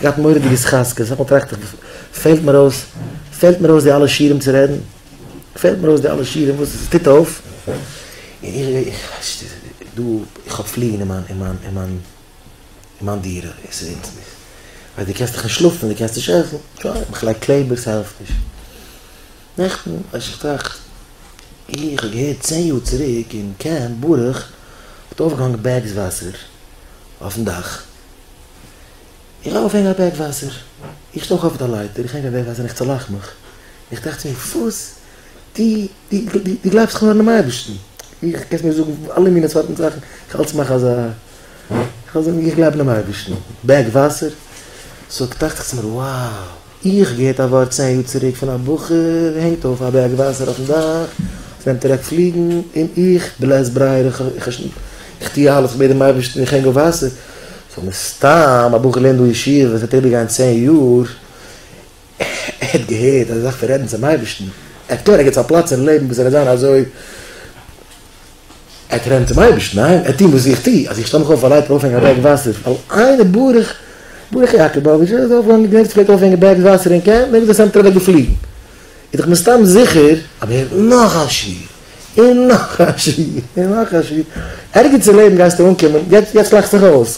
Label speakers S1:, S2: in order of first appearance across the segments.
S1: געהאט מורא'דיגע סכסכות, אסאך מאל טראכט איך פעלט מיר אויס, פעלט מיר אויס די אלע שירים צו רעדן, פעלט מיר אויס די אלע שירים וואס עס טוט אויף, און איך איך ווייס נישט, איז דא, איך האב פליגן אין מיין אין מיין אין מיין אין מיין דירה, און ס'איז אונז נישט, ווייל דו קענסט דאך נישט שלאפן, דו קענסט נישט עסן, שוין, איך לייג קלעבער ס'העלפט נישט. נעכטן, ווייס איך טראכט איך, איך האב געהערט צען יאר צוריק אין קעמפ ברוך האט אויפגעהאנגן בעגס וואסער אויפן דאך, איך לויף אוועק א בעג וואסער, איך שטויך אויף די לייטער, איך הענג א בעג וואסער און איך צעלאך מיך, איך טראכט צו מיר, וואס? דו, דו, דו גלייבסט איך האב אינעם אייבערשטן? איך, קענסט מיר זאגן אלע מיני סארטן זאכן, איך האלט מיך אזא, איך וועל זאגן איך גלייב אינעם אייבערשטן, בעג וואסער, סאו טראכט איך צו מיר, wow! איך געהערט א ווארט צען יאר צוריק פון א בחור הענגט אויף א בעג וואסער אויפן דאך עס נעמט אוועק פליגן און איך בלית ברירה איך טוה אלעס כ'בעט דעם אייבערשטן איך הענג אויף וואסער סאו מסתם א בחור לערנט דא ישיבה וואס וועט איבערגיין צען יאר ער האט געהערט אז ער דארף רעדן צום אייבערשטן ער האט קלאר ערגעץ א פלאץ אין לעבן וואס ער וועט זיין אזוי ער טענה'ט צום אייבערשטן, ניין, ער האט טון וואס איך טו, אז איך שטעל מיך אויף א לייטער אויפהענגען א בערג וואסער, ווייל איינער ברוך ברוך יאקאבאוויטש איז אויפגעגאנגען געזען צו פלעגט אויפהענגען בערגס וואסער אין קעמפ, מעג דאס אמתער אוועק געפליגן, איז דאך מסתם זיכער, אבער נאך א שיעור, און נאך א שיעור, און נאך א שיעור, ערגעץ אין לעבן גייסטו אנקומען, יעצט לאכסט זיך אויס.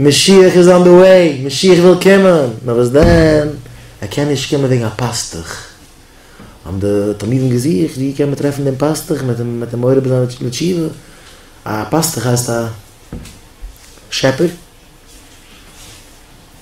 S1: משיח איז אן די וועי, משיח וויל קומען, נאר וואס דען, ער קען נישט קומען וועגן א פאסטוך, האבן די תלמידים געזוכט ווי קען מען טרעפן דעם פאסטוך, מען וועט אים מעורר זיין לתשובה, א פאסטוך הייסט א שעפער.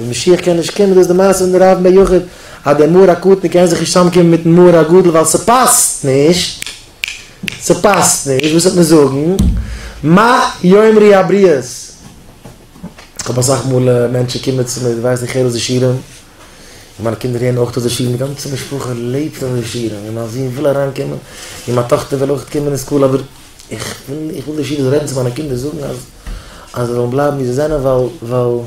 S1: ווען משיח קען נישט קומען, דאס איז די מעשה פון די רב בן יחיד, אז דער מהר א קטן קען זיך נישט צוזאמקומען מיטן מהר א גדול ווייל ס'פאסט נישט, ס'פאסט נישט, וואס וועט מען זאגן, מה יאמרי הבריות? כ'האב אסאך מאל מענטשן קומען צו מיר, זיי ווייסן איך הער אויס די שירים, און מיינע קינדער הערן אויך אויס די שירים, די גאנצע משפחה לעבט אויף די שירים, און מיין זון וויל אריינקומען, און מיין טאכטער וויל אויך קומען אין סקול, אבער איך וויל נישט, איך וויל די שירות רעדן צו מיינע קינדער, זאגן אז, אז זיי זאלן בלייבן ווי זיי זענען, ווייל, ווייל.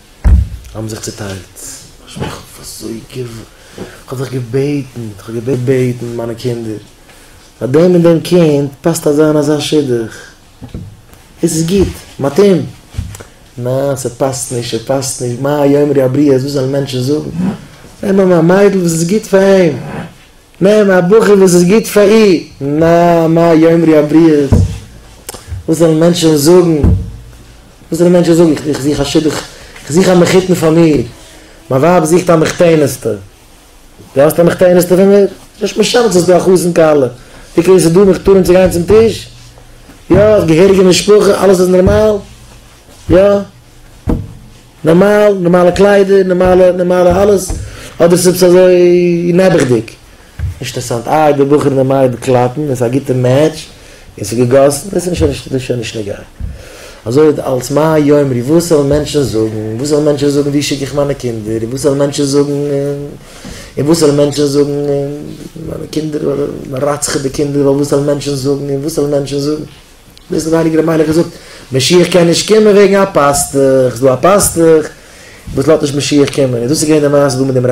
S1: האבן זיך צוטיילט, איך האב אזוי געוו. איך האב זיך געבעטן, איך האב געבעטן מיינע קינדער, פאר דעם און דעם קינד פאסט אזא און אזא שידוך, עס איז גוט, מתאים. ניין, ס'פאסט נישט, ס'פאסט נישט, מה יאמרו הבריות, וואס וועלן מענטשן זאגן? נעם אים א מיידל וואס איז גוט פאר אים. מ מ א בחור וואס איז גוט פאר אי מ מ א יאמרי הבריות, וואס זאלן מענטשן זאגן, וואס זאלן מענטשן זאגן, איך איך זוך א שידוך, איך זוך א מחותן פאר מיר, מיין ווייב זוכט א מחותעניסטע, דו האסט א מחותעניסטע פאר מיר? נישט משנה צו ס'איז דא א חתן כלה, ווי קען ס'איז דא מחותנים צו גיין צום טיש, יא, געהעריגע משפחה, אלעס איז נארמאל, יא. נארמאל, נארמאלע קליידער, נארמאלע, נארמאלע אלעס, אדער איז עפעס אזוי נעבעכדיג? נישט אינטערעסאנט, איי די בחור און די מיידל קלאפן, און ס'איז א גוטע מעטש, און ס'איז געגאסן, דאס איז נישט, דאס איז שוין נישט נוגע. אזוי איז אלץ, מה יאמרו, וואס וועלן מענטשן זאגן, וואס וועלן מענטשן זאגן, וואו שיק איך מיינע קינדער, און וואס וועלן מענטשן זאגן, און וואס וועלן מענטשן זאגן, און מיינע קינדער, רצח'עט די קינדער, ווייל וואס וועלן מענטשן זאגן, און וואס וועלן מענטשן זאגן. דאס האט הייליגער רבי מיילעך געזאגט, משיח קען נישט קומען וועגן א פאסטוך, ס'איז דא א פאסטוך וואס לאזט נישט משיח קומען, און דאס איז געווען די מעשה דא מיט דעם רב.